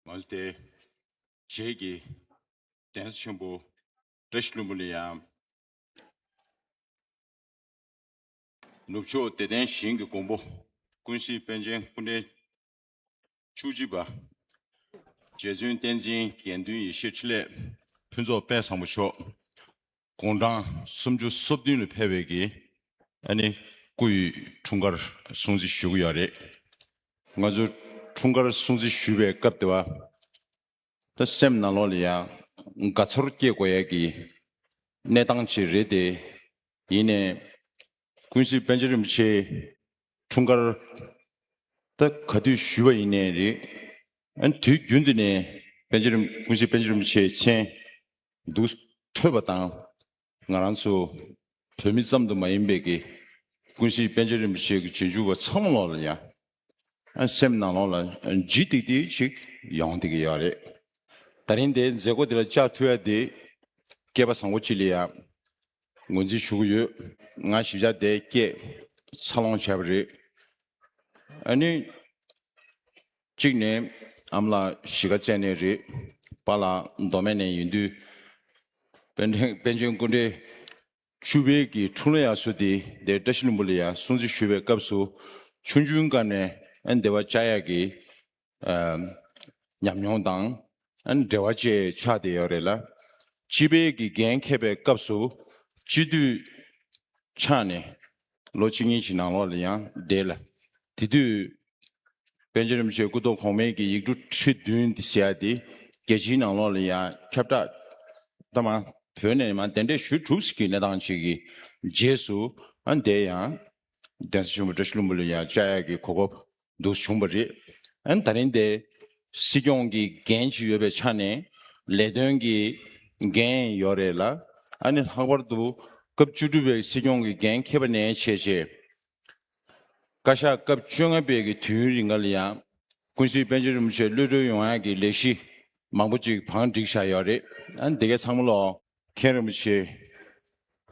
མ་ལྟའི་རྗེས་ཀྱི་གདན་ས་ཆེན་པོ་བཀྲ་ཤིས་ལྷུན་པོ་ནས་ཡང། ནུབ་ཕྱོགས་བདེ་ལྡན་ཞིང་གི་མགོན་པོ་ཀུན་གཟིགས་དཔལ་ཆེན་སྐུ་འཕྲེང་བཅུ་གཅིག་པ། རྗེ་བཙུན་བསྟན་འཛིན་དགེ་འདུན་ཡེ་ཤེས་ཕྲིན་ལས་ཕུན་ཚོགས་དཔལ་བཟང་པོ་མཆོག། དགུང་གྲངས་སུམ་ཅུ་སོ་བདུན་ལ་ཕེབས་པའི་གི་ཨ་ནི་སྐུ་ཡི་འཁྲུངས་སྐར་སྲུང་བརྩི་ཞུ་གི་ཡོད་རེད། ང་ཚོ་འཁྲུངས་སྐར་སྲུང་བརྩི་ཞུ་བའི་སྐབས་དེ་བ་ད་སེམས་ནང་ལོག་ལ་ཡང་དགའ་ཚོར་སྐྱེས་དགོས་ཡས་གི་གནས་སྟངས་ཅིག་རེད་དེ་ཡིན་ནས་ཀུན་གཟིགས་པཎ་ཆེན་རིན་པོ་ཆེའི་འཁྲུངས་སྐར་ད་ག་དུས་ཞུས་པ་ཡིན་ནའི་རེད། ཨན་དུས་རྒྱུན་དུ་ནས་པན་ཆེན་རིན་པོ་ཆེ་པན་ཆེན་རིན་པོ་ཆེ་མཆན་འདུག་ཐོས་པ་དང། ང་རང་ཚོ་བོད་མི་ཙམ་དུ་མ་ཡིན་པའི་གི་ཀུན་གཞི་པན་ཆེན་རིན་པོ་ཆེ་གི་རྗེས་འཇུག་པ་ཚང་མ་ལ་ཡང་ཨན་སེམས་ནང་ལོག་ལ་ལྗིད་ལྡིག་ལྡིག་ཅིག་ཡོང་སྡི་གི་ཡོད་རེད། ད་རིང་དེའི་མཛད་སྒོ་དེ་ལ་བཅར་ཐུབ་ཡ་དེ་སྐལ་པ་བཟང་པོ་ཅིག་ལ་ཡ། ངོས་འཛིན་ཞུ་གི་ཡོད། ང་ཞིབ་ཆ་དེ་སྐད་འཚར་ལོངས་བྱས་པ་རེད། ཨ་ནུས། གཅིག་ནས་ཨམ་ལགས་གཞིས་ཀ་རྩེ་ནས་རེད། པཱ་ལགས་མདོ་སྨད་ནས་ཡིན་དུས། པན་ཆེན་པན་ཆེན་སྐུ་འདྲེ། ཆུ་བེད་ཀྱི་འཁྲུངས་ལོ་ཡག་སུ་དེ་འདའི་བཀྲ་ཤིས་ལུང་པ་ལ་ཡང་སྲུང་བརྩི་ཞུ་བའི་སྐབས་སུ་ཆུང་ཆུང་དཀར་ནས་ཨ་འདའི་བ་ལྕགས་ཡག་གིས་ཉམས་མྱོང་དང་འབྲེལ་བ་བཅས་ཆགས་བསྡད་ཡོད་རེད་ལ། སྤྱི་པའི་དགེ་རྒན་མཁས་པའི་སྐབས་སུ་སྤྱི་འཐུས་ཆགས་ནས་ལོ་གཅིག་གཉིས་ཀྱི་ནང་ལོགས་ལ་ཡང་བསྡད་ལ། དེ་དུས་པཎ་ཆེན་རིན་པོ་ཆེ་སྐུ་གདུང་གོང་མས་ཀྱི་ཡིག་འབྲུ་ཁྲི་བདུན་དེ་བྱས་ཏེ་རྒྱལ་སྤྱིའི་ནང་ལོགས་ལ་ཡང་ཁྱབ་བསྒྲགས་བཏང། བོད་ནས་མ་གདན་འདྲེན་ཞུས་གྲུབ་ཟིན་གྱི་གནས་སྟངས་ཤིག་གི་རྗེས་སུ་བསྡད་ཡང། གདན་ས་ཆེན་པོ་བཀྲ་ཤིས་ལྷུན་པོ་ལ་ཡང་བཅའ་ཡག་གི་གོ་སྐབས་འདུག་བྱུང་བ་རེད། ཨན་ད་རིང་དེ་སྲིད་སྐྱོང་གི་འགན་ཞིག་ཡོད་པའི་ཆ་ནས་ལས་དོན་གྱི་འགན་ཡོད་རེད་ལ། ཨ་ནི་ལྷག་པར་དུ་སྐབས་བཅུ་དྲུག་པའི་སྲིད་སྐྱོང་གི་འགན་ཁེ་པ་ནས་བྱས་རྗེས། བཀའ་ཤག་སྐབས་བཅོ་ལྔ་པའི་གི་དུས་ཡུན་རིང་ཀ་ལ་ཡང་ཀུན་གཟིགས་དཔལ་ཆེན་རིན་པོ་ཆེ་གློད་གྲོལ་ཡོང་ཡག་གི་ལས་གཞི་མང་པོ་ཅིག་བང་བསྒྲིགས་བཞག་ཡོད་རེད། ཨན་དེ་གས་ཚང་མ་ལོ། མཁན་རིན་པོ་ཆེ།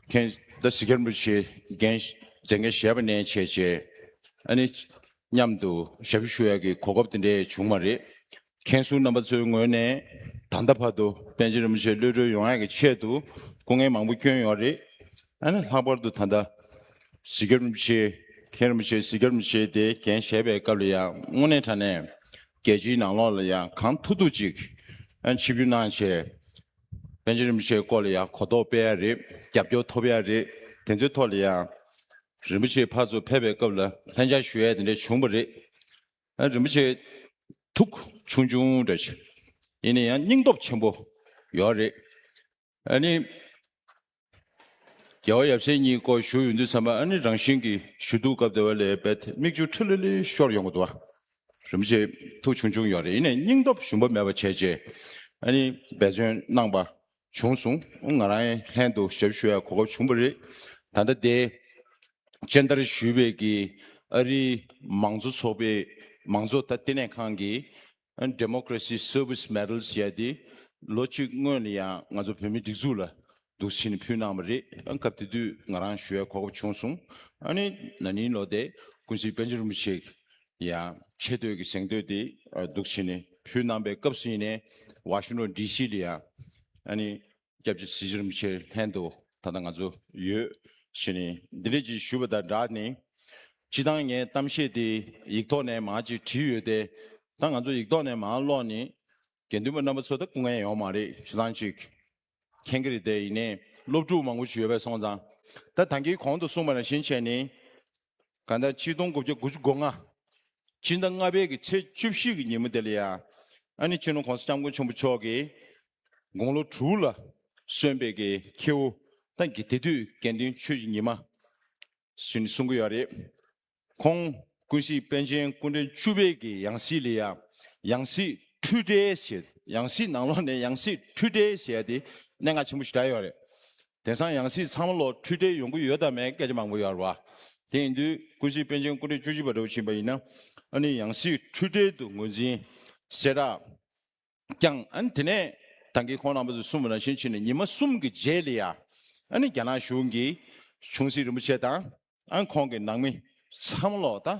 མཁན་ད་སི་ཀ་རིན་པོ་ཆེ་རྒན་མཛད་འགན་བཞེས་པ་ནས་བྱས་རྗེས་ཨ་ནི་མཉམ་དུ་ཞབས་ཞུ་ཞུ་ཡག་གི་གོ་སྐབས་དེ་འདྲས་བྱུང་བ་རེད། མཁན་ཟུར་རྣམ་པ་ཚོའི་ངོས་ནས་ད་ལྟ་བར་དུ་པན་ཆེན་རིན་པོ་ཆེ་གློད་གྲོལ་ཡོང་ཡག་གི་ཆེད་དུ་སྐུ་ངལ་མང་པོ་བསྐྱོན་ཡོད་རེད། ཨ་ནི་ལྷག་པར་དུ་ད་ལྟ་སི་ཀ་རིན་པོ་ཆེ། མཁན་རིན་པོ་ཆེ་སི་ཀ་རིན་པོ་ཆེ་དེ་རྒན་བཞེས་པའི་སྐབས་ལ་ཡང་དངོས་གནས་དྲ་ནས་རྒྱལ་སྤྱིའི་ནང་ལོགས་ལ་ཡང་གང་ཐུག་ཐུག་ཅིག་ཨ་ནི་ཆིབས་བསྒྱུར་གནང་བྱས། བཙན་བྱོལ་རིན་པོ་ཆེའི་སྐོར་ལ་ཡང་གོ་རྟོགས་སྤེལ་ཡ་རེད་རྒྱབ་སྐྱོར་ཐོབ་ཡ་རེད་དེ་ཚོའི་ཐོག་ལ་ཡང། རིན་པོ་ཆེའི་ཕར་ཚུར་ཕེབས་པའི་སྐབས་ལ་ལྷན་བཅར་ཞུ་ཡ་དེ་འདྲ་བྱུང་བ་རེད། རིན་པོ་ཆེ། ཐུགས་ཆུང་ཆུང་འདྲ་ཞིག་ཡིན་ན་ཡང་སྙིང་སྟོབས་ཆེན་པོ་ཡོད་རེད། ཨ་ནི། རྒྱལ་བ་ཡབ་སྲས་གཉིས་སྐོར་བཞུགས་ཡོད་འདུག་ཚང་མ་ཨ་ནེ་རང་བཞིན་གྱིས་བཞུགས་འདུག་སྐབས་དེ་བས་ལས་བེད་མིག་ཆུ་ཁྲི་ལི་ལི་ཤོར་ཡོང་གི་འདུག་རིན་པོ་ཆེ་ཐུགས་ཆུང་ཆུང་ཡོང་རེ་ཡིན་ནས་སྙིང་སྟོབས་ཞུམ་པ་མེད་པ་བྱས་རྗེས་ཨ་ནེ་འབད་བརྩོན་གནང་པ་བྱུང་སོང་ང་རང་ལྷན་དུ་ཞབས་ཞུ་ཡག་གོ་སྐབས་བྱུང་བ་རེད་ད་ལྟ་དེ་སྤྱན་བསྟར་ཞུས་པའི་གིས་ཨ་རིའི་མང་གཙོ་ཚོགས་པའི་མང་གཙོ་ལྟེ་གནས་ཁང་གིས Democracy Service Medals ཞེས་ཏེ་ལོ་གཅིག་སྔོན་ལ་ཡང་ང་ཚོ་བོད་མིའི་སྒྲིག་འཛུགས་ལ་འདུ་བྱེད་ནས་ཕུལ་གནང་བ་རེད། སྐབས་དེ་དུས་ང་རང་ཞུ་བའི་གོ་སྐབས་བྱུང་སོང། ན་ནིང་ལོ་དེ་ཀུན་གཟིགས་དཔལ་ཆེན་རིན་པོ་ཆེས་ཡང་ཆེ་བསྟོད་ཀྱི་གཟེངས་བསྟོད་དེ་འདུ་བྱེད་ནས་ཕུལ་གནང་པའི་སྐབས་སུ་ཡིན་ནའི་ཝ་ཤིང་ཏོན་ལྡི་སི་ལ་ཡང། སྐྱབས་ཀྱི་གཟི་བྱུར་མི་ཕྱེད་ལྷན་དུ་ད་ལྟ་ང་ཚོ་ཡོད། ཞེས་ནི་འདི་ལས་ཀྱིས་ཞུས་པ་དང་སྦྲགས་ནི། སྤྱི་བཏང་ངས་གཏམ་བཤད་དེ་ཡིག་ཐོག་ནས་མང་ཅིག་བྲིས་ཡོད་དེ། ད་ང་ཚོ་ཡིག་ཐོག་ནས་མང་ཀློག་ནི། དགེ་འདུན་པ་རྣམ་པ་ཚོ་ད་སྐུ་ངལ་ཡོང་མ་རེད་ཞེ་སྡང་ཅིག་མཁྱེན་གྱི་རེད་དེ་ཡིན་ནས་སློབ་ཕྲུག་མང་པོ་ཞིག་ཡོད་པས་སོང་ཙང། ད་ད་གིས་གོང་དུ་གསུངས་པ་ནང་བཞིན་བྱས་ནི། གང་ལྟར་སྤྱི་སྟོང་དགུ་བརྒྱ་དགུ་བཅུ་གོ་ལྔ། སྤྱི་ཟླ་ལྔ་པའི་གི་ཚེས་བཅུ་བཞི་གི་ཉིན་མོ་དེ་ལ་ཡང་ཨ་ནི་ཁྱི་ནུ་གོང་ས་སྐྱབས་མགོན་ཆེན་པོ་མཆོག་གིས་དགུང་ལོ་དྲུག་ལ་སོན་པའི་གི་ཁྱེའུ་དང་གི་དེ་དུས་དགེ་འདུན་ཆོས་ཀྱི་ཉི་མ་ཞེས་ནི་གསུང་གི་ཡོད་རེད། ཁོང་ཀུན་གཟིགས་པན་ཆེན་སྐུ་འཕྲེང་བཅུ་པའི་གི་ཡང་སྲིད་ལ་ཡང་ཡང་སྲིད་འཁྲུལ་བྲལ་ཞེས་ཡང་སྲིད་ནང་ལོགས་ནས་ཡང་སྲིད་འཁྲུལ་བྲལ་ཞེས་ཏེ་གནས་ངག་ཆེན་པོ་ཞིག་གྲགས་ཡོད་རེད། དེང་སང་ཡང་སྲིད་ཚང་མ་ལོ་འཁྲུལ་བྲལ་ཡོང་གི་ཡོད་དམ་མེད་སྐད་ཆ་མང་པོ་ཡོད་རེད་བ། དེ་ཡིན་དུས་ཀུན་གཟིགས་པན་ཆེན་སྐུ་ཕྲེང་བཅུ་བཞི་པ་འགྲོ་བཞིན་པ་ཡིན་ན་ཨ་ནི་ཡང་སྲིད་འཁྲུལ་བྲལ་དུ་ངོས་འཛིན་བྱེད་ར་ཀྱང་ཨ་ནི་དེ་ནས་དང་གི་ཁོང་རང་བོད་དུ་གསུམ་བ་རང་བཞིན་ཕྱིན་ནས་ཉི་མ་གསུམ་གི་རྗེས་ལ་ཡ་ཨ་ནི་རྒྱ་ནག་གཞུང་གིས་ཆུང་སྲིད་རིན་པོ་ཆེ་དང་ཨ་ནི་ཁོང་གི་ནང་མི་ཚང་མ་ལོག་ད་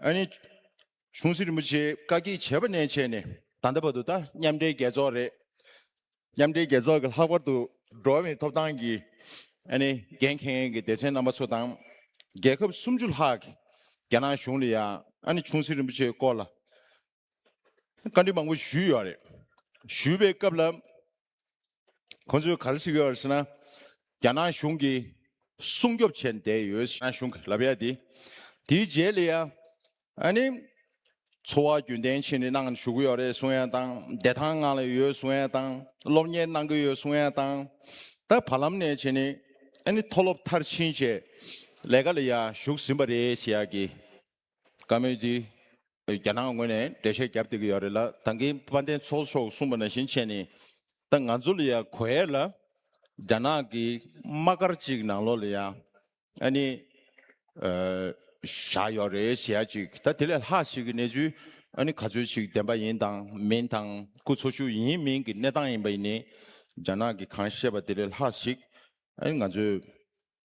ཨ་ནི། ཆུང་སྲི་རིན་པོ་ཆེའི་བཀའ་གྱིས་བྱས་པ་ནས་བྱས་ནས་ད་ལྟ་བར་དུ་ད་མཉམ་འབྲེལ་རྒྱལ་ཚོགས་རེད། མཉམ་འབྲེལ་རྒྱལ་ཚོགས་ཀྱི་ལྷག་པར་དུ་འགྲོ་བའི་ཐོབ་ཐང་གི་ཨ་ནི་འགན་འཁྱེར་མཁན་གྱི་སྡེ་ཚན་རྣམ་པ་ཚོ་དང། རྒྱལ་ཁབ་སུམ་ཅུ་ལྷག་གི་རྒྱ་ནག་གཞུང་ལ་ཡང་ཨ་ནི་ཆུང་སྲི་རིན་པོ་ཆེའི་སྐོར་ལ་བཀའ་འདྲི་མང་པོ་ཞུས་ཡོད་པ་རེད། ཞུས་པའི་སྐབས་ལ་ཁོང་ཚོས་ག་རེ་གཟིགས་ཡོད་ཟེར་ན། རྒྱ་ནག་གཞུང་གིས་སྲུང་སྐྱོབ་བྱས་བསྡད་ཡོད་རྒྱ་ནག་གཞུང་གི་ལབ་ཡ་དེ། དེའི་རྗེས་ལ་ཡང་ཨ་ནི་འཚོ་བ་རྒྱུན་གཏན་ཕྱིན་ནས་གནང་ཞུ་གི་ཡོད་རེད་གསུང་ཡ་དང། བདེ་ཐང་ངང་ལ་ཡོད་གསུང་ཡ་དང། སློབ་གཉེར་གནང་གི་ཡོད་གསུང་ཡ་དང། ད་བར་ལམ་ནས་བྱས་ནས་ཨ་ནི་མཐོ་སློབ་མཐར་ཕྱིན་བཅས་ལས་ཀ་ལ་ཡང་ཞུགས་ཟིན་པ་རེད་ཞེས་ཡག་གི་བཀའ་མོལ་འདི་རྒྱ་ནག་ངོས་ནས་འགྲེལ་བཤད་བརྒྱབ་བསྡད་ཀྱི་ཡོད་རེད་ལ་ད་གིན་དཔལ་ལྡན་ཚོགས་མཆོག་གསུངས་པ་ནང་བཞིན་བྱས་ནས་ད་ང་ཚོ་ལ་ཡང་གོ་ཡས་ལ་རྒྱ་ནག་གི་དམག་སྒར་ཅིག་ནང་ལོགས་ལ་ཡང་ཨ་ནི་བཞག་ཡོད་རེད་ཞེས་ཡ་ཅིག་ད་དེ་ལས་ལྷག་ཞིག་གི་གནས་ཚུལ་ཨ་ནི་ག་ཚོད་ཅིག་བདེན་པ་ཡིན་དང་མིན་དང་སྐུ་འཚོ་བཞུགས་ཡིན་མིན་གྱི་གནས་སྟངས་ཡིན་པ་ཡིན་ནས་རྒྱ་ནག་གི་གང་བཤད་པ་དེ་ལས་ལྷག་ཞིག་ཨ་ནི་ང་ཚོས།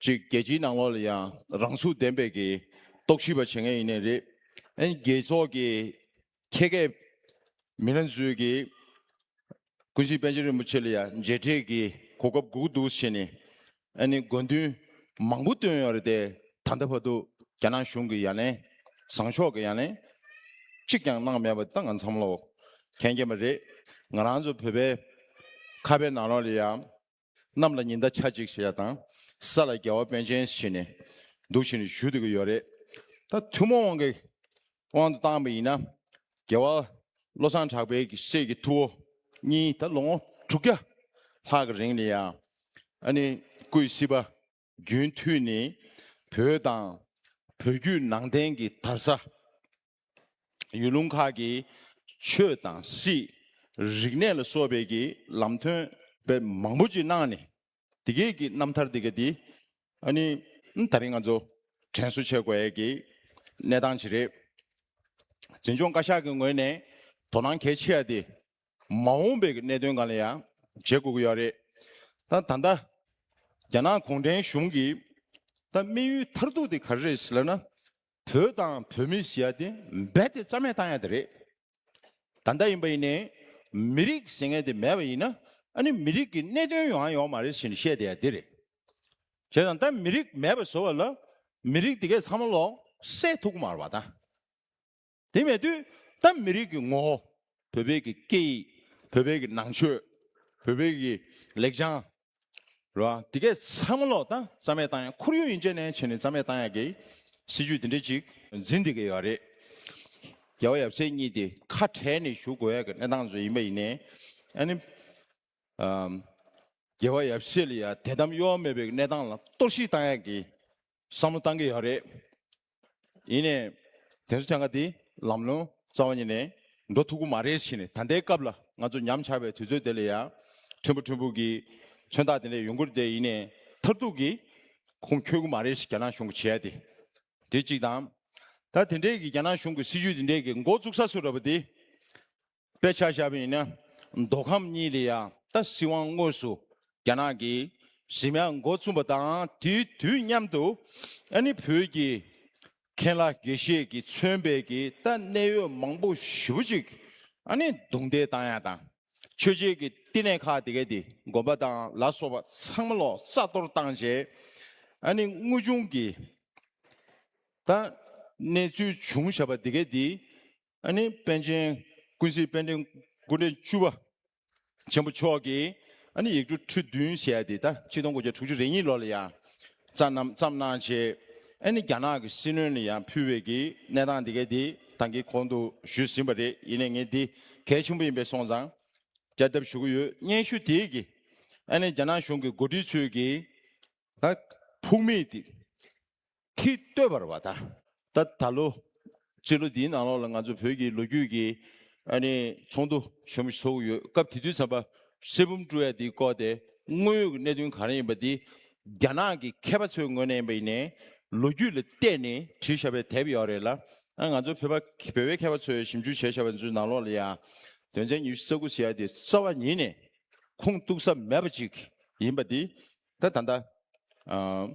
གཅིག་རྒྱལ་སྤྱིའི་ནང་ལོགས་ལ་ཡང་རང་ཚུགས་ལྡན་པའི་གི་རྟོག་ཞིབ་པ་བྱེད་མཁན་ཡིན་ནི་རེད། ཨན་རྒྱལ་ཚོགས་ཀྱི་ཁྱད་མཁས་མི་སྣ་ཚོས་གི་ཀུན་གཟིགས་པན་ཆེན་རིན་པོ་ཆེ་ལ་ཡང་མཇལ་འཕྲད་གི་གོ་སྐབས་འགུག་འདུག་བྱེད་ནི་ཨན་ནི་དགོས་འདུན་མང་པོ་བཏོན་ཡོད་རེད་དེ་ད་ལྟ་བར་དུ་རྒྱ་ནག་གཞུང་གི་ཡ་ལན་བཟང་ཕྱོགས་གི་ཡ་ལན་གཅིག་ཀྱང་གནང་མེད་པ་ད་ང་འཚམས་ལོག་མཁན་རྐྱེན་པ་རེད། ང་རང་ཚོ་བོད་པའི་ཁ་བའི་ནང་ལོགས་ལ་ཡང་གནམ་ལ་ཉི་ཟླ་ཆ་གཅིག་བྱས་དང། ས་ལ་རྒྱལ་བ་དཔོན་ཆེན་བྱས་ནས། འདུག་བཞིན་བཞུགས་འདོད་ཀྱི་ཡོད་རེད། ད་ཐུན་མོང་དབང་གིས་དབང་དུ་བཏང་བ་ཡིན་ན། རྒྱལ་བ་བློ་བཟང་གྲགས་པའི་སྲས་ཀྱི་ཐུ་བོ་གཉིས་ད་ལོ་ངོ་དྲུག་བརྒྱ་ལྷག་གི་རིང་ནས་ཡང་ཨ་ནི་སྐུའི་སྲིད་པ། རྒྱུན་མཐུད་ནི་བོད་དང་བོད་བརྒྱུད་ནང་བསྟན་གྱི་དར་ཆ། ཡུལ་ལུང་ཁག་གི་ཆོས་དང་སྲིད། རིག་གནས་ལ་སོགས་པའི་གྱི་ལམ་ཐོན་པའི་མང་པོ་ཅིག་གནང་ནས་དེ་སྐད་ཀྱི་རྣམ་ཐར་དེ་སྐད་དེ་ཨ་ནི་ད་རིང་ང་ཚོ་དྲན་གསོ་བྱེད་དགོས་ཀྱི་གནས་སྟངས་ཅིག་རེད། འཛིན་སྐྱོང་བཀའ་ཤག་གི་ངོས་ནས་དོ་སྣང་གལ་ཆེ་བ་དེ་མ་འོངས་པའི་གནད་དོན་གང་ལ་ཡང་བྱེད་དགོས་ཀྱི་ཡོད་རེད་ད། ད་ལྟ་རྒྱ་ནག་གུང་ཁྲན་གཞུང་གིས་ད་དམིགས་ཡུལ་མཐར་ཐུག་དེ་ག་རེ་རེད་ཟེར་ན། བོད་དང་བོད་མི་ཞེས་ཡ་དེ་རྦད་དེ་རྩ་མེད་བཏང་ཡ་དེ་རེད། ད་ལྟ་ཡིན་པ་ཡིན་ནས་མི་རིགས་ཟེར་མཁན་དེ་མེད་པ་ཡིན་ན་ཨ་ནི་མི་རིགས་ཀྱི་གནད་དོན་ཡོང་ཡ་ཡོང་མ་རེད་ཟེར་ནས་བཤད་དེ་ཡ་དེ་རེད། བྱས་ཙང་ད་མི་རིགས་མེད་པ་བཟོ་བ་ལ་མི་རིགས་དེ་གས་ཚང་མ་ལོག་སྲེད་ཐུག་གི་མ་རེད་བ་ད། དེ་མེད་དུས་ད་མི་རིགས་ཀྱི་ངོ་བོ། བོད་བོད་ཀྱི་སྐད་ཡིག་བོད་བོད་ཀྱི་ནང་ཆོས། བོད་བོད་ཀྱི་ལེགས་བྱང། རེད་བ། དེ་གས་ཚར་མ་ལོག་ད་རྩ་མེད་བཏང་ཡག་ཁོར་ཡུག་ཡིན་ཆད་ནས་ཆད་ནས་རྩ་མེད་བཏང་ཡག་གི། སྲིད་ཇུས་དེ་འདྲ་ཅིག། འཛིན་དེ་གས་ཡག་རེད། རྒྱལ་བ་ཡབ་སྲས་གཉིས་དེ་ཁ་བྲལ་ནས་བཞུགས་དགོས་ཡག་གི་གནས་སྟངས་བཟོས་ཡིན་པ་ཡིན་ནས་ཨ་ནི། རྒྱལ་བ་ཡབ་སྲས་ལ་ཡང་དད་དམ་གཡོ་བ་མེད་པའི་གནས་སྟངས་ལ་གཏོར་བཤིག་བཏང་ཡག་གི་བསམ་བློ་བཏང་གི་ཡོད་རེད། ཡིན་ནས་དེ་ཚོ་ཆང་ཁ་དེ་ལམ་ལྷོང་རྩ་བ་ཉིད་ནས་འགྲོ་ཐུབ་གི་མ་རེད་བཞིན་ད་ལྟའི་སྐབས་ལ་ང་ཚོ་ཉམས་ཆག་པའི་དུས་ཚོད་དེ་ལ་ཡང་ཕྲན་བུ་ཕྲན་བུ་གི་མཚོན་རྟགས་དེ་འདྲ་ཡོང་གི་རེད་དེ་ཡིན་ནས་མཐར་ཐུག་གི་ཁུངས་འཁྱོལ་གི་མ་རེད་ཞེས་རྒྱ་ནག་གཞུང་གིས་བྱས་ཡག་དེ་དེ་གཅིག་དང། ད་དེ་འདྲས་ཀྱི་རྒྱ་ནག་གཞུང་གི་སྲིད་ཇུས་དེ་འདྲས་ཀྱི་མགོ་བཙུགས་ས་སུ་རེད་པ་དེ་དཔེ་ཆ་བཞག་པ་ཡིན་ན་མདོ་ཁམས་གཉིས་ལས་ཡང་རྟ་སྲིད་དབང་དངོས་སུ་རྒྱ་ནག་གིས་གཞི་མ་མགོ་བཙུགས་པ་དང་དུས་མཉམ་དུ་ཨ་ནི་བོད་ཀྱི་མཁན་བླ་དགེ་བཤེས་ཀྱི་མཚོན་བལ་གྱི་རྟ་གནད་ཡོད་མང་པོ་ཞིབ་པོ་ཅིག་ཨ་ནི་རྡུང་རྡེག་བཏང་ཡ་དང་ཆོས་བྱེད་ཀྱི་བསྟི་གནས་ཁག་དེ་གའི་དེ་དགོན་པ་དང་ལ་སོགས་པ་ཚང་མ་ལོག་རྩ་གཏོར་བཏང་རྗེས་ཨ་ནི་དངོས་བྱུང་གི་རྟ་གནད་ཚུལ་བྱུང་བཞག་པ་དེ་གའི་དེའི་ཨ་ནི་པཎ་ཆེན་ཀུན་གཟིགས་དཔལ་ལྡན་སྐུ་འཕྲེང་བཅུ་བ་ཆེན་པོ་མཆོག་གིས་ཨ་ནི་ཡིག་འབྲུ་ཁྲི་བདུན་བཞེས་ཏེ་ཟླ་གཅིག་སྟོང་དགུ་བརྒྱ་དྲུག་ཅུ་རེ་གཉིས་ལོ་ལ་ཡང་བསྩལ་རྣམས་བརྩམས་གནང་བྱས། ཨ་ནི་རྒྱ་ནག་གི་སྲིད་བློན་ལ་ཡང་ཕུལ་བས་ཀྱི་གནས་སྟངས་འདི་གའི་དེ་དང་གི་གོང་དུ་ཞུས་ཟིན་པ་རེད་ཡིན་ནས་ངས་འདི་གལ་ཆེན་པོ་ཡིན་པས་སོང་ཙང་བསྐྱར་ལྡབ་ཞུ་གི་ཡོད་སྙན་ཞུ་དེས་ཀྱི་ཨ་ནི་རྒྱ་ནག་གཞུང་གི་འགོ་ཁྲིད་ཚོས་ཀྱི་ལ་ཕུགས་མེད་དེ། ཁྲི་ལྟོས་བར་བ་ད་ད་ད་ལོ། སྤྱི་ལོ་འདིའི་ནང་ལོགས་ལ་ང་ཚོ་བོད་ཀྱི་ལོ་རྒྱུས་ཀྱི་ཨ་ནི་ཚོགས་འདུ་ཞོ་མོ་ཞིག་ཚོགས་ཀྱི་ཡོད་སྐབས་དེ་དུས་ཚན་པ་གསེར་བུམ་བཀྲུ་ཡ་འདིའི་སྐོར་དེ་དངོས་ཡོད་ཀྱི་གནད་དོན་ག་རེ་ཡིན་པ་འདི་རྒྱ་ནག་གི་མཁས་པ་ཚོའི་ངོས་ནས་ཡིན་པ་ཡིན་ནས་ལོ་རྒྱུས་ལ་བལྟས་ནས་བྲིས་ཤ་བའི་དེབ་ཡོད་རེད་ལ་ཨ་ང་ཚོ་བོད་པ་བོད་བའི་མཁས་པ་ཚོས་ཞིབ་འཇུག་བྱས་ཤ་བ་ཚོའི་ནང་ལོགས་ལ་ཡང་དོན་ཚན་ཉུ་ཤི་རྩ་དགུ་ཞེས་ཡ་འདི་རྩ་བ་ཉིད་ནས་ཁུངས་གཏུགས་ས་མེད་པ་ཅིག་ཡིན་པ་འདི་ད་ད་ད་ཨ།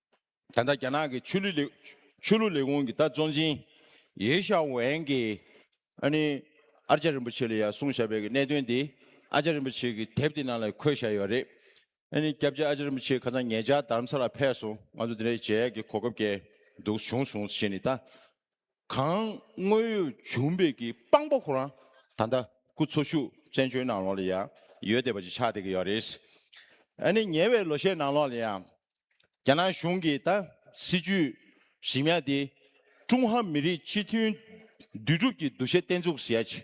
ད་ལྟ་རྒྱ་ནག་གི་ཆོས་ལུགས་ལས་ཁུངས་ཀྱི་ལྟ་བཙོན་ཅིང་ཡེ་ཞའོ་ཝན་གྱིས་ཨ་ནི་ཨར་ལྕགས་རིན་པོ་ཆེ་ལ་ཡར་བཟུང་བཞག་པའི་གནད་དོན་དེ་ཨར་ལྕགས་རིན་པོ་ཆེ་གི་དེབ་དེ་ནང་ལ་འཁོད་བཞག་ཡོད་པ་རེད། ཨ་ནི་སྐྱབས་རྗེ་ཨར་ལྕགས་རིན་པོ་ཆེ་ཁ་སང་ངེད་ཅག་དར་མཚར་ལ་ཕེབས་སོང་ང་ཚོ་འདི་འདྲའི་མཇལ་ཡག་གི་གོ་སྐབས་སྐྱེལ་འདུག་བྱུང་སོང་ཞེས་ནི་ལྟ་གང་དངོས་ཡོད་བྱུང་འབེབས་ཀྱི་དཔང་པོ་ཁོ་རང་ད་ལྟ་སྐུ་འཚོ་བཞུགས་བཙན་བྱོལ་ནང་ལོགས་ལ་ཡང་ཡོད་བསྡད་པ་ཅིག་ཆགས་བསྡད་ཀྱི་ཡོད་རེད། ཨ་ནི་ཉེ་བའི་ལོ་ཤས་ནང་ལོགས་ལ་ཡང་རྒྱ་ནག་གཞུང་གིས་ད་སྲིད་ཇུས་ཞིབ་ཉག་དེ་ཀྲུང་ཧྭ་མི་རིགས་གཅིག་མཐུན་འདུས་གྲུབ་ཀྱི་འདུ་ཤེས་བརྟན་ཚུགས་ཟེར་ཡ་ཅིག་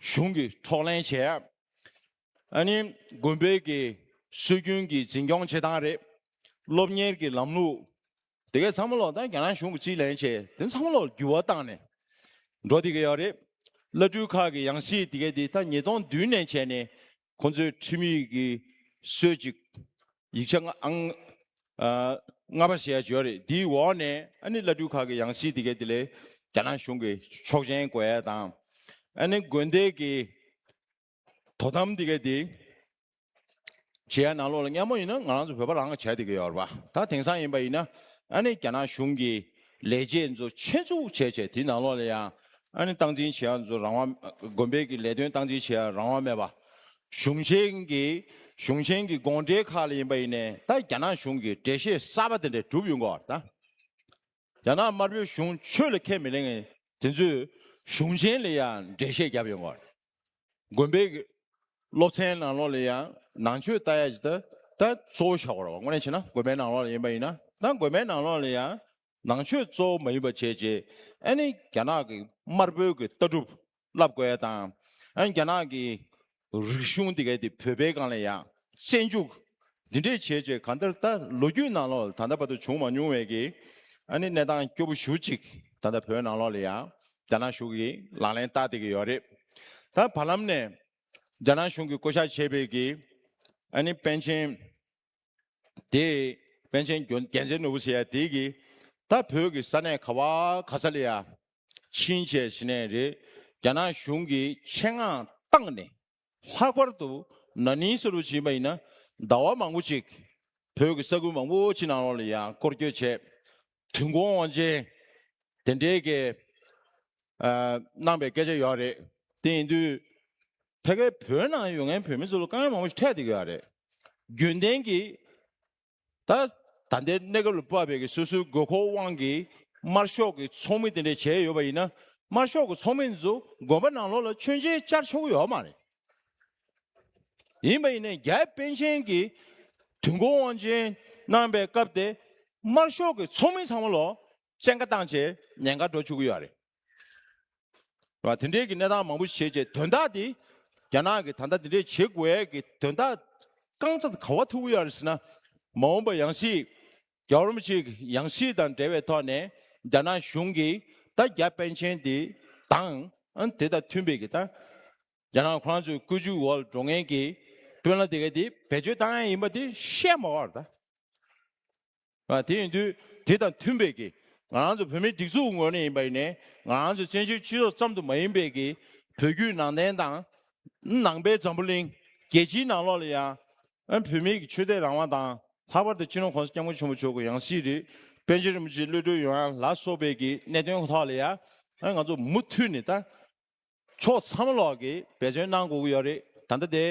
གཞུང་གིས་འཕྲོག་ལེན་བྱས། ཨ་ནི་དགོན་པའི་གི་སྲོལ་རྒྱུན་གྱི་འཛིན་སྐྱོང་བྱེད་སྟངས་རེད། སློབ་གཉེར་གྱི་ལམ་ལུགས། དེ་གས་ཚང་མ་ལོག་ད་རྒྱ་ནག་གཞུང་གི་རྩིས་ལེན་བྱས་དེ་ཚང་མ་ལོག་འགྱུར་བ་བཏང་ནས་འགྲོ་དེ་གས་ཡོད་རེད། བླ་སྤྲུལ་ཁག་གི་ཡང་སྲིད་དེ་གས་དེ་ད་ཉིས་སྟོང་བདུན་ནས་བྱས་ནས་ཁོང་ཚོའི་ཁྲིམས་ཡིག་གི་སྲོལ་ཅིག་ཡིག་ཆ་ལྔ་པ་ཞེས་བརྗོད་རེད། དེའི་འོག་ནས་ཨ་ནི་བླ་སྤྲུལ་ཁག་གི་ཡང་སྲིད་དེ་གའི་དེ་ལས་རྒྱ་ནག་གཞུང་གི་ཆོག་མཆན་དགོས་ཡས་དང། ཨ་ནི་དགོན་སྡེ་གི་དོ་དམ་དེ་གའི་དེ་བྱེད་ཡས་ནང་ལོགས་ལ་སྙན་མོ་ཡིན་ན་ང་རང་ཚོ་བོད་པ་རང་གི་བྱ་དེ་གའི་ཡོད་རེད་པ། ད་དེང་སང་ཡིན་པ་ཡིན་ན་ཨ་ནི་རྒྱ་ནག་གཞུང་གི་ལས་བྱེད་ཚོ་ཆེད་འཛུགས་བྱས་བྱས་དེ་ནང་ལོགས་ལ་ཡང་ཨཱ་ནི་སྟངས་འཛིན་བྱེད་ཡ་ཚོ་རང་དབང་དགོན་པའི་གི་ལས་དོན་སྟངས་འཛིན་བྱེད་ཡ་རང་དབང་མེད་པ། གཞུང་ཆེན་གི་གཞུང་ཆེན་གི་དགོངས་འགྲེལ་ཁག་ལ་ཡིན་པ་ཡིན་ནས་ད་རྒྱ་ནག་གཞུང་གི་འགྲེལ་བཤད་གསར་པ་དེ་འདྲ་གྲུབ་ཡོད་འགོ་ད། རྒྱ་ནག་དམར་པོའི་གཞུང་ཆོས་ལ་ཁས་མི་ལེན་མཁན་དེ་ཚོས་གཞུང་ཆེན་ལ་ཡང་འགྲེལ་བཤད་བརྒྱབ་ཡོད་འགོ། དགོན་པའི་སློབ་ཚན་ནང་ལོགས་ལ་ཡང་ནང་ཆོས་ལྟ་ཡ་ཇི་ལྟར་ལྟར་གཙོ་བོ་བྱ་བར་བ་ངོ་ནས་བྱེད་ན་དགོན་པའི་ནང་ལོགས་ལ་ཡིན་པ་ཡིན་ན་ད་དགོན་པའི་ནང་ལོགས་ལ་ཡང་ནང་ཆོས་གཙོ་བོ་མ་ཡིན་པ་བྱས་རྗེས་ཨ་ནི་རྒྱ་ནག་གི་དམར་པོའི་གི་ལྟ་གྲུབ་བསླབ་དགོས་ཡ་དང་ཨ་ནི་རྒྱ་ནག་གི་རིག་གཞུང་དེ་གའི་དེ་བོད་པའི་སྒང་ལ་ཡང་བཙན་འཇུག། འདི་འདྲས་བྱས་རྗེས་ག་འདིར་ད་ལོ་རྒྱུས་ནང་ལོགས་ད་ལྟ་བར་དུ་བྱུང་མ་མྱོང་བའི་གི་ཨ་ནི་གནས་སྟངས་སྐྱོ་པོ་ཞུ་གཅིག་ད་ལྟ་བོད་ནང་ལོགས་ལ་ཡང་རྒྱ་ནག་གཞུང་གིས་ལག་ལེན་བསྟར་བསྡད་ཀྱི་ཡོད་རེད། ད་བར་ལམ་ནས་རྒྱ་ནག་གཞུང་གིས་བསྐོ་བཞག་བྱས་པའི་གི་ཨ་ནི་པན་ཆེན་དེ་པན་ཆེན་རྒྱལ་མཚན་ནོར་བུ་ཟེར་ཡ་དེ་གི་ད་བོད་ཀྱི་ས་གནས་ག་བ་ག་ས་ལ་ཡང་ཕྱིན་ཆད་ཞི་གནས་རེད་རྒྱ་ནག་གཞུང་གིས་ཆེད་མངགས་བཏང་ནས་ལྷག་པར་དུ་ན་ནིང་ས་རུ་བྱིན་པ་ཡིན་ན་ཟླ་བ་མང་པོ་གཅིག་བོད་ཀྱི་ས་ཁུལ་མང་པོ་ཕྱི་ནང་ལ་ཡང་སྐོར་སྐྱོད་བྱས། དུས་འགོང་བ་ཅན་དེ་འདྲའི་སྐད། གནང་པའི་སྐད་ཆ་ཡོད་རེད། དེ་ཡིན་དུས་ཕལ་སྐད་བོད་ནང་ཡོད་མཁན་བོད་མི་ཚོ་ལ་དཀའ་ངལ་མང་པོ་ཞིག་འཕྲད་དེ་ཡོད་རེད། རྒྱུན་ལྡན་གྱི་ད་ད་ལྟའི་གནས་སྐབས་ལ་བབ་པའི་གི་སོ་སོའི་དགོས་མཁོ་དབང་གིས་དམར་ཤོག་གི་ཚོགས་མི་དེ་འདྲས་བྱས་ཡོད་པ་ཡིན་ན་དམར་ཤོག་གི་ཚོགས་མི་ཚོ་དགོན་པ་ནང་ལོགས་ལ་མཆོད་མཇལ་བཅར་ཆོག་གི་ཡོད་མ་རེད། ཡིན་པ་ཡིན་ན་རྒྱ་དཔོན་ཆེན་གྱི་དུས་འགོ་དབང་ཆེན་གནང་པའི་སྐབས་དེ་དམར་ཤོག་གི་ཚོགས་མི་ཚང་མ་ལོགས་སྤྱན་ཁ་བཏང་བྱས་ཉེན་ཁ་འགྲོ་བཅུག་གི་ཡོད་རེད། ལ་དེ་འབྲེལ་གྱི་གནས་སྟངས་མང་པོ་བྱེད་ཅེས་དོན་དག་དེ་རྒྱ་ནག་གིས་ད་ལྟ་དེ་འདྲས་བྱེད་དགོས་ཡས་ཀྱི་དོན་དག་རྐང་ཚ་ག་བ་ཐུ་བུ་ཡར་ཟིན་ན་མ་འོངས་པ་ཡང་སྲིད་རྒྱ་རོམ་གཅིག་ཡང་སྲིད་དང་འབྲེལ་བའི་ཐོག་ནས་རྒྱ་ནག་གཞུང་གིས་ད་རྒྱ་པན་ཆེན་དེ་དང་དེ་དང་མཐུན་པའི་གི་ད་རྒྱ་ནག་ཁོ་རང་ཚོའི་བཀོད་ཇུས་འོག་འགྲོ་མཁན་གྱི་དཔོན་ལ་དེ་ག་དེ་བེད་སྤྱོད་བཏང་ཡས་ཡིན་པ་དེ་བཤད་མ་བར་ད། དེ་ཡིན་དུས་དེ་དང་མཐུན་པའི་གིས་ང་རང་ཚོ་བོད་མིའི་སྒྲིག་འཛུགས་ངོས་ནས་ཡིན་པ་ཡིན་ནས་ང་རང་ཚོ་བཙན་བྱོལ་སྤྱི་ཚོགས་ཙམ་དུ་མ་ཡིན་པའི་གིས་བོད་བརྒྱུད་ནང་བསྟན་དང། ནང་པའི་འཛམ་བུ་གླིང་རྒྱལ་སྤྱིའི་ནང་ལོགས་ལ་ཡང། བོད་མིའི་གིས་ཆོས་དད་རང་དབང་དང་ལྷག་པར་དུ་སྤྱི་ནོར ྋགོང་ས ྋསྐྱབས་མགོན་ཆེན་པོ་མཆོག་གི་ཡང་སྲིད་རིགས་པན་ཆེན་རིན་པོ་ཆེའི་གློད་གྲོལ་ཡོང་ཡ་ལ་སོགས་པའི་གིས་གནད་དོན་ཁག་ལ་ཡང་ང་ཚོ་མུ་མཐུད་ནས་ད། ཕྱོགས་མཚམས་ལོགས་ཀྱི་འབད་བརྩོན་གནང་དགོས་ཀྱི་ཡོད་རེད་ད་ལྟ་དེ་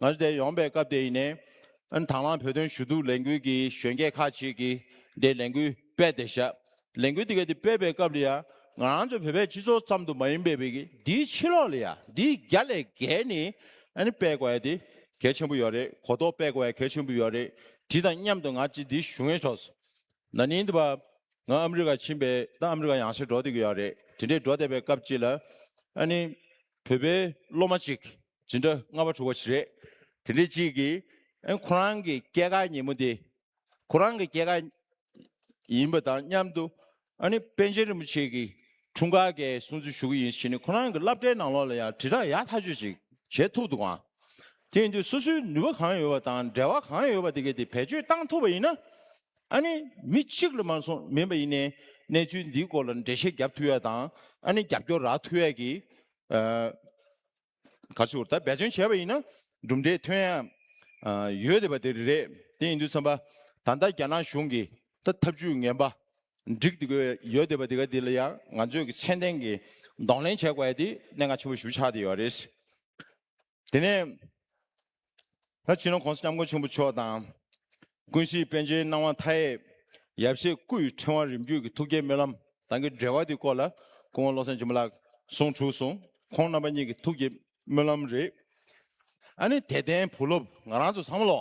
ང་ཚོ་དེ་ཡོང་པའི་སྐབས་དེ་ཡིན་ནའི། དང་བླངས་བོད་དོན་ཞུ་གཏུག་ལས་འགུལ་གྱི་གཞོན་སྐྱེས་ཁག་ཅིག་གིས་དེ་ལས་འགུལ་སྤེལ་ཏེ་བཞག་ལས་འགུལ་དེ་གའི་དེ་སྤེལ་པའི་སྐབས་ལ་ཡང་ང་རང་ཚོ་བོད་པའི་སྤྱི་ཚོགས་ཙམ་དུ་མ་ཡིན་པའི་བོད་ཀྱི་འདིའི་ཕྱི་ལོགས་ལ་ཡང་འདིའི་རྒྱ་ལས་བརྒལ་ནས་སྤེལ་དགོས་ཡ་དེ་གལ་ཆེན་པོ་ཡོད་རེད་གོ་རྟོགས་སྤེལ་དགོས་ཡ་གལ་ཆེན་པོ་ཡོད་རེད་དེ་དང་མཉམ་དུ་ང་ཅི་འདི་ཞུ་ངེས་ཆོགས་སུ་ན་ནིང་འདི་བ། ང་ཨ་མི་རི་ཀ་ཕྱིན་པས་ད་ཨ་མི་རི་ཀ་ཡང་ཕྱིར་འགྲོ་བསྡད་ཀྱི་ཡོད་རེད་དེ་འདྲའི་འགྲོ་བསྡད་པའི་སྐབས་གཅིག་ལ། ཨ་ནི། བོད་པའི་སློབ་མ་གཅིག་ཇི་འདྲ་ལྔ་བ་དྲུག་བ་ཞིག་རེད། དེ་འདྲའི་གཅིག་གིས་ཨ་ཁོ་རང་གི་སྐྱེས་སྐར་ཉིན་མོ་འདི། ཁོ་རང་གི་སྐྱེས་སྐར། ཡིན་པ་དང་མཉམ་དུ། ཨ་ནི་པན་ཆེན་རིན་པོ་ཆེ་གི་འཁྲུངས་སྐར་འགའི་སྲུང་བརྩི་ཞུ་གི་ཡིན་ཞེས་ནི་ཁོ་རང་གི་བསླབ་གྲྭའི་ནང་ལོགས་ལ་ཡང་དྲིལ་བསྒྲགས་ཡག་ཐག་ཆོད་ཅིག་བྱེད་ཐུབ་འདུག་ཨང། དེ་ཡིན་དུས་སོ་སོའི་ནུས་པ་གང་ཡོད་པ་དང་འབྲེལ་བ་གང་ཡོད་པ་དེ་གས་དེ་བེད་སྤྱོད་བཏང་ཐུབ་པ་ཡིན་ན། ཨ་ནི་མི་གཅིག་ལ་མ་སོང་མིན་པ་ཡིན་ནའི་གནས་ཚུལ་འདིའི་སྐོར་ལ་འགྲེལ་བཤད་རྒྱབ་ཐུ་ཡས་དང་ཨ་ནི་རྒྱབ་སྐྱོར་རག་ཐུ་ཡས་ཀྱི་ག་ཚུལ་ལྟར་འབད་བརྩོན་བྱས་པ་ཡིན་ན་གྲུབ་འབྲས་ཐོན་ཡས་ཡོད་དེ་པ་དེ་རེད་དེ་ཡིན་དུས་བསམ་པ་ད་ལྟ་རྒྱ་ནག་གཞུང་གི་ད་ཐབས་ཇུས་ངན་པ་འགྲིག་དེ་དགོས་ཡོད་དེ་པ་དེ་ག་དེ་ལ་ཡང་ང་ཚོས་ཀྱི་ཚད་ལྡན་གྱི་གདོང་ལེན་བྱས་དགོས་ཡས་དེ་གནད་འགག་ཆེན་པོ་ཞུ་ཆགས་དེ་ཡོད་རེད། དེ་ནས་ད་ཕྱིན་ནོ་གོང་ས་སྐྱབས་མགོན་ཆེན་པོ་མཆོག་དང། ཀུན་གཞིའི་དཔལ་ཆེན་སྣང་བ་མཐའ་ཡས་ཡབ་གཞས་སྐུ་ཡི་ཕྲེང་བ་རིམ་བརྒྱུད་ཀྱི་ཐུགས་བསྐྱེད་སྨོན་ལམ་དང་གི་འབྲེལ་བ་དེ་སྐོར་ལ་སྐུ་ངོ་བློ་བཟང་ཆེན་པོ་ལགས་གསུང་དྲུག་གསུང་ཁོང་རྣམ་པ་གཉིས་ཀྱི་ཐུགས་བསྐྱེད་སྨོན་ལམ་རེད། ཨ་ནི་དད་ལྡན་བུ་སློབ་ང་རང་ཚོ་བསམ་བློ་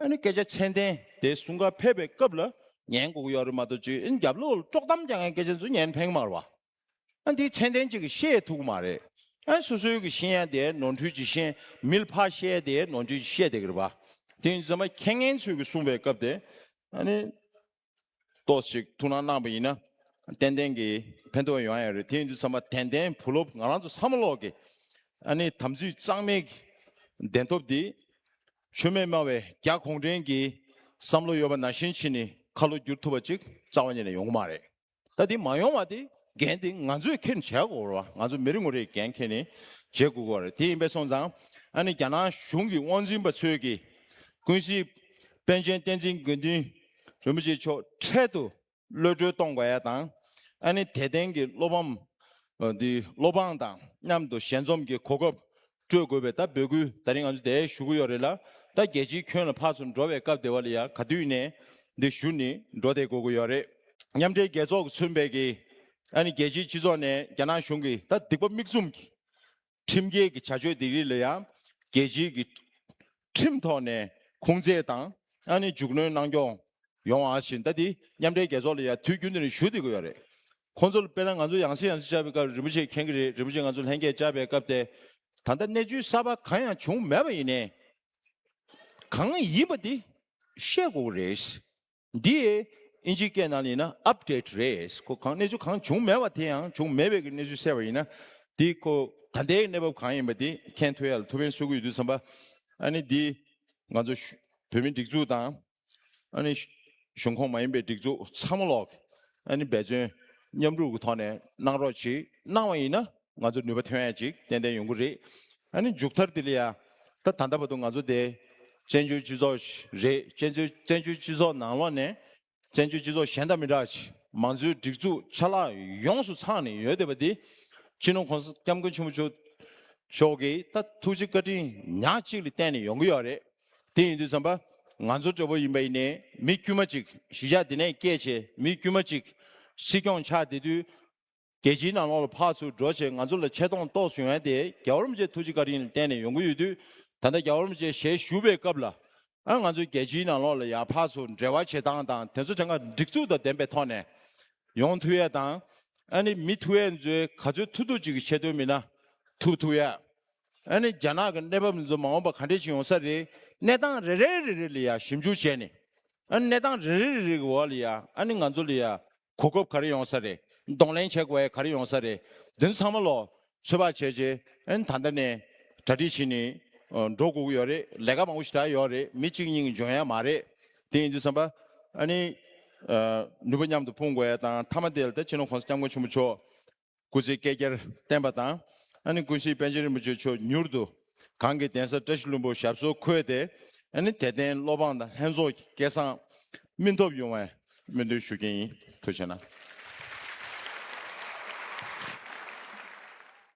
ཨ་ནི་སྐད་ཆ་མཆན་ལྡན་དེ་གསུང་སྐབས་ཕེབས་པའི་སྐབས་ལ་ཉན་དགོས་ཀྱི་ཡོད་རེད་མ་གཏོགས་ཅི་རྒྱབ་ལོག་ལ་དཀྲོག་གཏམ་རྒྱག་མཁན་སྐད་ཆ་ཚོ་ཉན་ཕན་གི་མ་རེད་པ། ཨ་འདིའི་མཆན་ལྡན་གཅིག་གིས་བཤད་ཐུབ་ཀྱི་མ་རེད། ཨ་སོ་སོའི་གི་ཤེས་ཡ་དེ་ནོར་འཁྲུལ་གྱིས་ཤེས་མི་ལ་ཕ་བཤད་དེ་ནོར་འཁྲུལ་གྱིས་བཤད་བསྡད་ཀྱི་རེད་པ། དེ་ཡིན་ཚེ་མ་མཁས་ངན་ཚོས་གི་གསུང་པའི་སྐབས་དེ་ཨ་ནི་ཏོག་ཅིག་ཐུགས་སྣང་གནང་བ་ཡིན་ན། ཏན་ཏན་གྱིས་ཕན་ཐོགས་ཡོང་ཡ་རེད་དེ་ཡིན་དུས་ཚང་མ་དན་དན་བུ་སློབ་ང་རང་ཚོ་ཚང་མ་ཀློག་གི། ཨ་ནི་དམ་ཚིག་གཙང་མའི་བདེན་ཐོབ་འདི། ཆོས་མེད་སྨྲ་བའི་རྒྱ་གོང་དྲན་གྱི། བསམ་བློ་ཡོད་པ་ན་ཤེས་ཕྱིན་ནི་ཁ་ལོ་བསྒྱུར་ཐུབ་པ་ཅིག་རྩ་བ་ཉིད་ནས་ཡོང་གི་མ་རེད། ད་དེ་མ་ཡོང་བ་དེ་འགན་དེ་ང་ཚོས་ཁྱེར་བྱས་དགོས་བ་ང་ཚོ་མི་རེ་ངོ་རེ་འགན་ཁྱེར་ནས་བྱེད་དགོས་བ་རེད་དེ་ཡིན་པས་སོང་ཙང་ཨ་ནི་རྒྱ་ནག་གཞུང་གི་དབང་འཛིན་པ་ཚོས་ཀྱི་ཀུན་གཞི་པན་ཆེན་བསྟན་འཛིན་དགེ་འདུན་རིན་པོ་ཆེ་མཆོག་འཕྲལ་དུ་གློད་གྲོལ་གཏོང་དགོས་ཡ་དང་ཨ་ནི་དད་ལྡན་གྱི་སློབ་བམ་འདི་སློབ་འབངས་དང་མཉམ་དུ་ཞལ་འཛོམས་ཀྱི་གོ་སྐབས་སྤྲོད་དགོས་པའི་ད་འབོད་སྐུལ་ད་རིང་ང་ཚོ་དེ་ཞུ་གི་ཡོད་རེད་ལ་ད་རྒྱལ་སྤྱིའི་ཁྱོན་ལ་ཕར་ཚུར་འགྲོ་བའི་སྐབས་དེ་བ་ལ་ཡང་ག་དུས་ནས་འདི་ཞུ་ནི་འགྲོ་དེ་དགོས་གི་ཡོད་རེད། མཉམ་འབྲེལ་རྒྱལ་ཚོགས་ཀྱི་ཚུན་བེད་ཀྱི་ཨ་ནི་རྒྱལ་སྤྱིའི་སྤྱི་ཚོགས་ནས་རྒྱ་ནག་གཞུང་གི་ད་སྡིག་པ་མིག་བཙུམ་གི་ཁྲིམས་འགལ་གྱི་བྱ་སྤྱོད་དེ་རིགས་ལ་ཡང་རྒྱལ་སྤྱིའི་གི་ཁྲིམས་ཐོག་ནས་ཁུངས་བཙན་དང་ཨ་ནི་འཇུག་གནོན་གནང་སྐྱོང་ཡོང་བ་བཞིན་ལྟ་འདི་མཉམ་འབྲེལ་རྒྱལ་ཚོགས་ལ་ཡང་དུས་རྒྱུན་དུ་ནས་ཞུ་བསྡད་དགོས་ཡོད་རེད། ཁོང་ཚོ་ལ་དཔེར་ན་ང་ཚོ་ཡང་སྲིད་ཡང་སྲིད་བཅའ་བའི་སྐབས་རིན་པོ་ཆེ་མཁྱེན་གྱི་རེད་རིན་པོ་ཆེ་ང་ཚོ་ལྷན་རྒྱས་བཅར་བའི་སྐབས་དེ་ད་ལྟ་གནས་ཚུལ་གསར་པ་གང་ཡང་བྱུང་མེད་པ་ཡིན་ནའི་གང་ཡིན་པ་དེ་བཤད་དགོས་རེད། འདིས་དབྱིན་ཇིའི་སྐད་ནང་ལེན་ན Update རེད། ཁོ་གང་གནས་ཚུལ་གང་བྱུང་མེད་པ་དེ་ཡང་བྱུང་མེད་པའི་གི་གནས་ཚུལ་གསལ་བ་ཡིན་ན། དེ་ཁོ་ད་ལྟའི་གནས་བབ་གང་ཡིན་པ་དེ་མཁྱེན་ཐུབ་ཡ་ལ་ཐུབ་བན་གསོད་གི་ཡོད་དུས་བསམ་པ། ཨ་ནི་འདི་ང་ཚོ་བོད་མི་སྒྲིག་འཛུགས་དང། ཨ་ནི་གཞུང་ཁོངས་མ་ཡིན་པའི་སྒྲིག་འཛུགས་ཚང་མ་ལོག་ཨ་ནི་འབད་བརྩོན་མཉམ་རུབ་གི་ཐོག་ནས་གནང་རོགས་གྱིས་གནང་བ་ཡིན་ན། ང་ཚོར་ནུས་པ་ཐོན་ཡ་ཅིག་ཏན་ཏན་ཡོང་གི་རེད། ཨ་ནི་མཇུག་མཐར་དེ་ལ་ཡ། ད་ད་ལྟ་བར་དུ་ང་ཚོ་དེ། བཙན་བྱོལ་སྤྱི་ཚོགས་ཤིག་རེད། བཙན་བྱོལ་བཙན་བྱོལ་སྤྱི་ཚོགས་ནང་ལོགས་ནས། བཙན་བྱོལ་སྤྱི་ཚོགས་གཞན་དང་མི་འདྲ་ཅིག་མང་གཙོའི་སྒྲིག་འཛུགས་ཆ་ལག་ཡོངས་སུ་ཚང་ནས་ཡོད་བསྡད་པ་འདི། སྤྱི་ནོར ྋགོང་ས ྋསྐྱབས་མགོན་ཆེན་པོ་མཆོག་མཆོག་གིས་ད་ཐུགས་རྗེ་བཀའ་དྲིན་ཉག་གཅིག་ལ་བརྟེན་ནས་ཡོང་གི་ཡོད་རེད། དེ་ཡིན་དུས་བསམ་པ། ང་ཚོ་འདྲ་བོ་ཡིན་པ་ཡིན་ནས་མི་དཀྱུས་མ་ཅིག་གཞིས་ཆགས་དེ་ནས་སྐྱེས་བྱས་མི་དཀྱུས་མ་ཅིག། སྲིད་སྐྱོང་ཆགས་བསྡད་དུས། རྒྱལ་སྤྱིའི་ནང་ལོགས་ལ་ཕར་ཚུར་འགྲོ་བྱེད་ང་ཚོ་ལ་ཆེ་མཐོང་རྟོགས་བཟོས་ཡོང་སྟེ་རྒྱ་བོར་མ་བྱེད་ཐུགས་རྗེ་བཀའ་དྲིན་ལ་བརྟེན་ནས་ཡོང་གི་ཡོད་དུས་ད་ལྟ་རྒྱ་བོར་མ་བྱེད་ཞལ་བཞུགས་པའི་སྐབས་ལ་ཨང་ང་ཚོ་རྒྱལ་སྤྱིའི་ནང་ལོགས་ལ་ཡང་ཕར་ཚུར་འབྲེལ་བ་བྱེད་སྟངས་དང་དེ་ཚོ་དེ་འགའ་འགྲིག་ཚུལ་དང་ལྡན་པའི་ཐོག་ནས་ཡོང་ཐུ་ཡས་དང་ཨ་ནི་མི་ཐུ་ཡས་ཚོའི་ག་ཚོད་ཐུ་ཐུ་ཅིག་གི་ཆེད་དོན་མི་སྣ་ཐུ་ཐུ་ཡས་ཨ་ནི་རྒྱ་ནག་གི་གནས་བབ་འདི་ཚོ་མ་འོངས་པ་ག་འདྲས་ཅིག་ཡོང་ས་རེད་གནས་སྟངས་རེ་རེ་རེ་རེ་ལ་ཡང་ཞིབ་འཇུག་བྱས་ནས་ཨ་ནི་གནས་སྟངས་རེ་རེ་རེ་རེ་གི་འོག་ལ་ཡང་ཨ་ནི་ང་ཚོ་ལ་ཡང་གོ་སྐབས་ག་རེ་ཡོང་ས་རེད་གདོང་ལེན་བྱེད་དགོས་ག་རེ་ཡོང་ས་རེད་དེ་ཚང་མ་ལོ་ཚོད་དཔག་བྱས་རྗེས་ད་ལྟ་ནས་གྲ་སྒྲིག་བྱེད་ནས་འགྲོ་དགོས་ཀྱི་ཡོད་རེད་ལས་ཀ་མང་པོ་ཞིག་གྲགས་ཡི་ཡོད་རེད་མི་གཅིག་གཉིས་ཀྱི་འཇོན་ཡ་མ་རེད་དེ་ཡིན་དུས་བསམ་པ་ཨ་ནི་ནུས་པ་མཉམ་དུ་སྤུངས་དགོས་ཡ་དང་མཐའ་མ་དེ་ལ་ད་ཕྱི་ནང་གོང་ས་སྐྱབས་མགོན་ཆེན་པོ་མཆོག་སྐུ་ཚེ་བསྐལ་བརྒྱར་བརྟན་པ་དང། ཨ་ནི་ཀུན་གཞིའི་པཎ་ཆེན་རིན་པོ་ཆེ་མཆོག་མྱུར་དུ་གང་གི་གདན་ས་བཀྲ་ཤིས་ལྷུན་པོར་ཞབས་སོར་འཁོད་དེ། ཨ་ནི་དད་ལྡན་སློབ་འབངས་དང་ལྷན་ཚོགས་ཀྱི་སྐལ་བཟང་སྨིན་ཐོབ་ཡོང་བའི་སྨོན་འདུན་ཞུ་རྒྱུ་ཡིན། ཐུགས་ཆེ་ན།